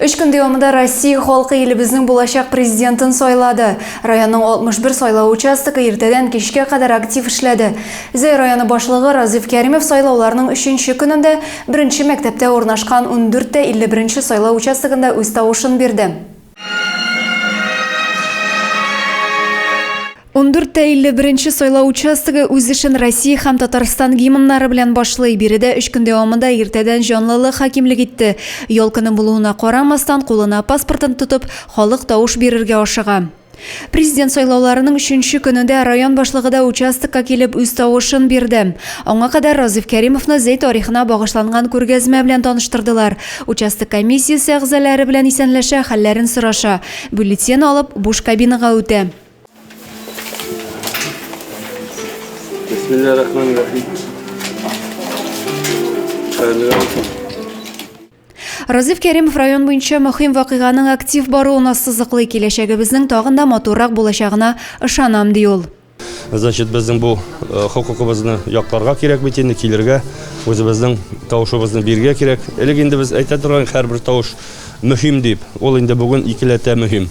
Өч көн дәвамында Россия халкы илебезнең булачак президентын сайлады. Районның 61 сайлау участогы иртәдән кичкә кадәр актив эшләде. Зәй районы башлыгы Разиф Кәримов сайлауларның өченче көнендә беренче мәктәптә урнашкан 14 тә 51 сайлау участогында үз тавышын бирде. Ундүрт тә илле беренче сайлау участогы үз эшен Россия һәм Татарстан гимннары белән башлый. Биредә өч көн дәвамында иртәдән җанлылык хакимлек итте. Ял көне булуына карамастан, кулына паспортын тотып, халык тавыш бирергә ашыга. Президент сайлауларының өченче көне дә район башлыгы да участокка килеп үз тавышын бирде. Аңа кадәр Разыйф Кәримовны Зәй тарихына багышланган күргәзмә белән таныштырдылар. Участок комиссиясе әгъзалары белән исәнләшә, хәлләрен сораша. Бюллетен алып, буш кабинага үтә. Разиф Кәримов район буенча мөһим вакыйганың актив баруына сызыклый киләчәгебезнең тагын да матуррак булачагына ышанам, ди ул. Значит, безнең бу э, хокукыбызны якларга кирәк бит инде, килергә, үзебезнең тавышыбызны бирергә кирәк. Элек инде без әйтә торган һәрбер тавыш мөһим дип, ул инде бүген икеләтә мөһим.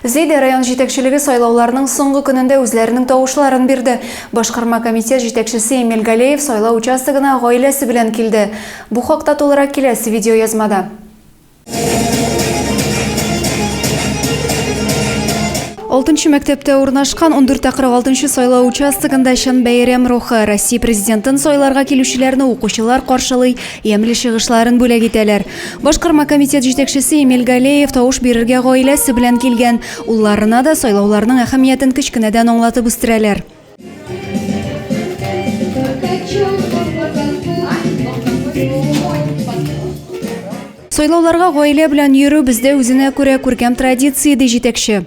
Зәйдә район җитәкчелеге сайлауларның соңгы көнендә үзләренең тавышларын бирде. Башкарма комитет җитәкчесе Эмиль Галеев сайлау участогына гаиләсе белән килде. Бу хакта тулырак киләсе видеоязмада. Алтынчы мәктәптә урнашкан 14-46 сайлау участогында чын бәйрәм рухы. Россия президентын сайларга килүчеләрне укучылар каршылый, ямьле чыгышларын бүләк итәләр. Башкарма комитет җитәкчесе Эмиль Галеев тавыш бирергә гаиләсе белән килгән. Улларына да сайлауларның әһәмиятен кечкенәдән аңлатып үстерәләр. Сайлауларга гаилә белән йөрү бездә үзенә күрә күркәм традиция, ди җитәкче.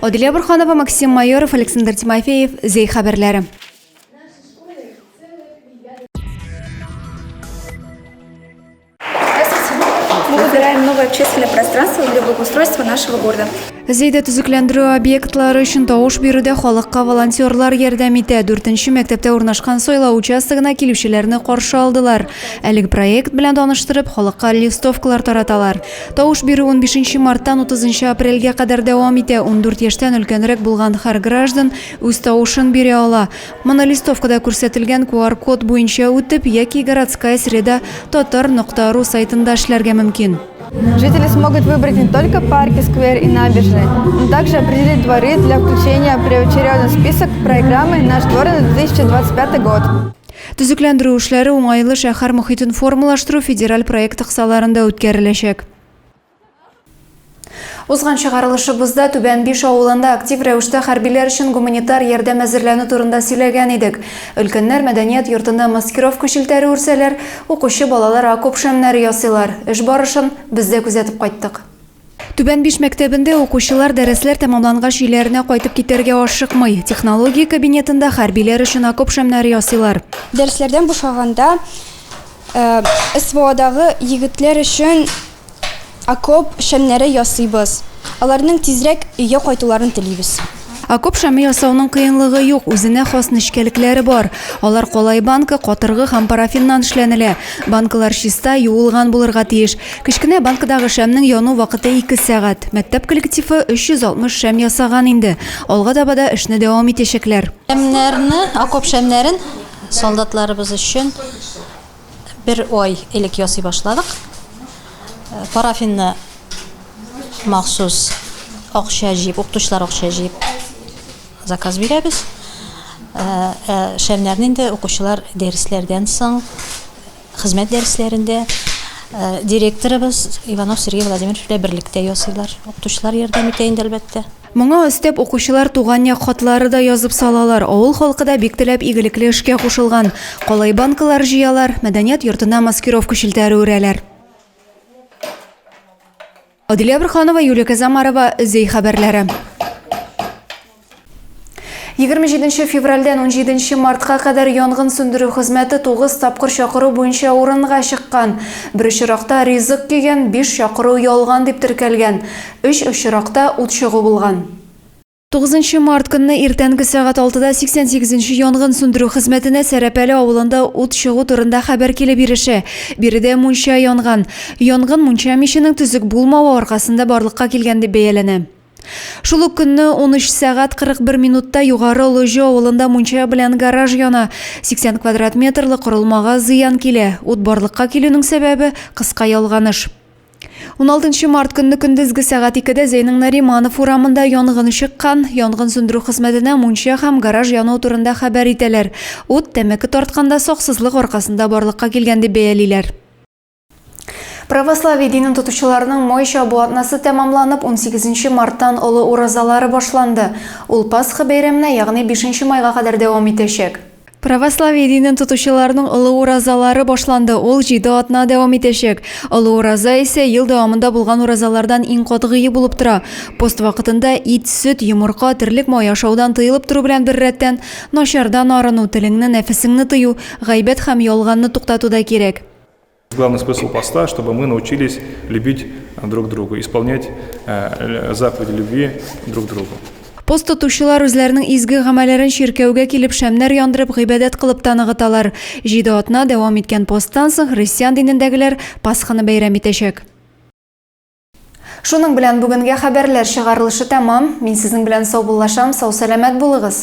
Адилия Бурханова, Максим Майоров, Александр Тимофеев, Зей хәбәрләре. Мы выбираем новое общественное пространство для благоустройства нашего города. Зейдә төзекләндерү объектлары өчен тавыш бирүдә халыкка волонтерлар ярдәм итә. Дүртенче мәктәптә урнашкан сайлау участогына килүчеләрне каршы алдылар. Әлеге проект белән таныштырып, халыкка листовкалар тараталар. Тавыш бирү унбишенче марттан утызынчы апрельгә кадәр дәвам итә. Ундүрт яшьтән өлкәнрәк булган һәр граждан үз тавышын бирә ала. Моны листовкада күрсәтелгән QR-код буенча үтеп яки Городская среда Татар нокта ру сайтында эшләргә мөмкин. Жители смогут выбрать не только парки, сквер и набережные, но также определить дворы для включения в первоочередный список программы «Наш двор» на 2025 год. Төзекләндерү эшләре уңайлы шәһәр мохитен формалаштыру федераль проекты кысаларында үткәреләчәк. Узган чыгарылышыбызда Түбән Биш авылында актив рәвештә хәрбиләр өчен гуманитар ярдәм әзерләнү турында сөйләгән идек. Өлкәннәр мәдәният йортында маскировка челтәре үрсәләр, укучы балалар окоп шәмнәре ясыйлар. Эш барышын без дә күзәтеп кайттык. Түбән Биш мәктәбендә укучылар дәресләр тәмамлангач өйләренә кайтып китәргә ашыкмый. Технология кабинетында хәрбиләр өчен окоп шәмнәре ясыйлар. Дәресләрдән бушаганда СВОдагы егетләр өчен окоп шәмнәре ясыйбыз. Аларның тизрәк өйгә кайтуларын телибез. Окоп шәме ясауның кыенлыгы юк, үзенә хас нечкәлекләре бар. Алар калай банка, катыргы һәм парафиннан эшләнелә. Банкалар чиста, юылган булырга тиеш. Кечкенә банкадагы шәмнең яну вакыты ике сәгать. Мәктәп коллективы 360 шәм ясаган инде. Алга таба да эшне дәвам итәчәкләр. Шәмнәрне, окоп шәмнәрен солдатларыбыз өчен. Бер ай элек ясый башладык. Парафинны махсус акча җыеп, укытучылар акча җыеп заказ бирәбез. Ә, ә шәмнәрне инде укучылар дәресләрдән соң хезмәт дәресләрендә ә, директорыбыз Иванов Сергей Владимирович белән берлектә ясыйлар. Укытучылар ярдәм итә инде әлбәттә. Моңа өстәп, укучылар туган як хатлары да язып салалар. Авыл халкы да бик теләп игелекле эшкә кушылган. Калай банкалар җыялар, мәдәният йортына маскировка челтәре үрәләр. Адилә Борханова, Юлия Казамарова, Өзей хәбәрләре. 27 февральдән 17 мартка кадәр янгын сүндерү хезмәте 9 тапкыр чакыру буенча урынга чыккан. Бер очракта ризык кигән, 5 чакыру ялган дип теркәлгән. Өч очракта ут чыгу булган. Тугызынчы март көнне иртәнге сәгать алтыда 88 нче янгын сүндерү хезмәтенә Сәрәпәле авылында ут чыгу турында хәбәр килеп ирешә. Биредә мунча янган. Янгын мунча миченең төзек булмавы аркасында барлыкка килгән дип бәяләнә. Шул ук көнне 13 сәгать 41 минутта Югары Олыҗы авылында мунча белән гараж яна. 80 квадрат метрлы корылмага зыян килә. Ут барлыкка килүнең сәбәбе, кыска ялганыш. 16 март көнне көндезге сәгать 2-дә Зәйнең Нариманов урамында янгын чыккан. Янгын сүндерү хезмәтенә мунча һәм гараж яну турында хәбәр итәләр. Ут тәмәке тартканда саксызлык аркасында барлыкка килгән дип бәялиләр. Православие динен тотучыларның май чабу атнасы тәмамланып, 18 марттан Олы уразалары башланды. Ул Пасха бәйрәменә, ягъни бишенче майга кадәр дәвам итәчәк. Православие динен тотучыларның олы уразалары башланды, ул җиде атна дәвам итәчәк. Олы ураза исә ел дәвамында булган уразалардан иң катгые булып тора. Пост вакытында ит, сөт, йомырка, терлек мае ашаудан тыелып тору белән беррәттән, начардан арыну, телеңне, нәфесеңне тыю, гайбәт һәм ялганны туктату да кирәк. Главный смысл поста, чтобы мы научились любить друг друга, исполнять э, заповеди любви друг другу. Пост тотучылар үзләренең изге гамәлләрен чиркәүгә килеп шәмнәр яндырып гыйбадәт кылып та ныгыталар. Җиде атна дәвам иткән посттан соң христиан динендәгеләр Пасханы бәйрәм итәчәк. Шуның белән бүгенгә хәбәрләр чыгарылышы тәмам. Мин сезнең белән саубуллашам, сау-сәламәт булыгыз.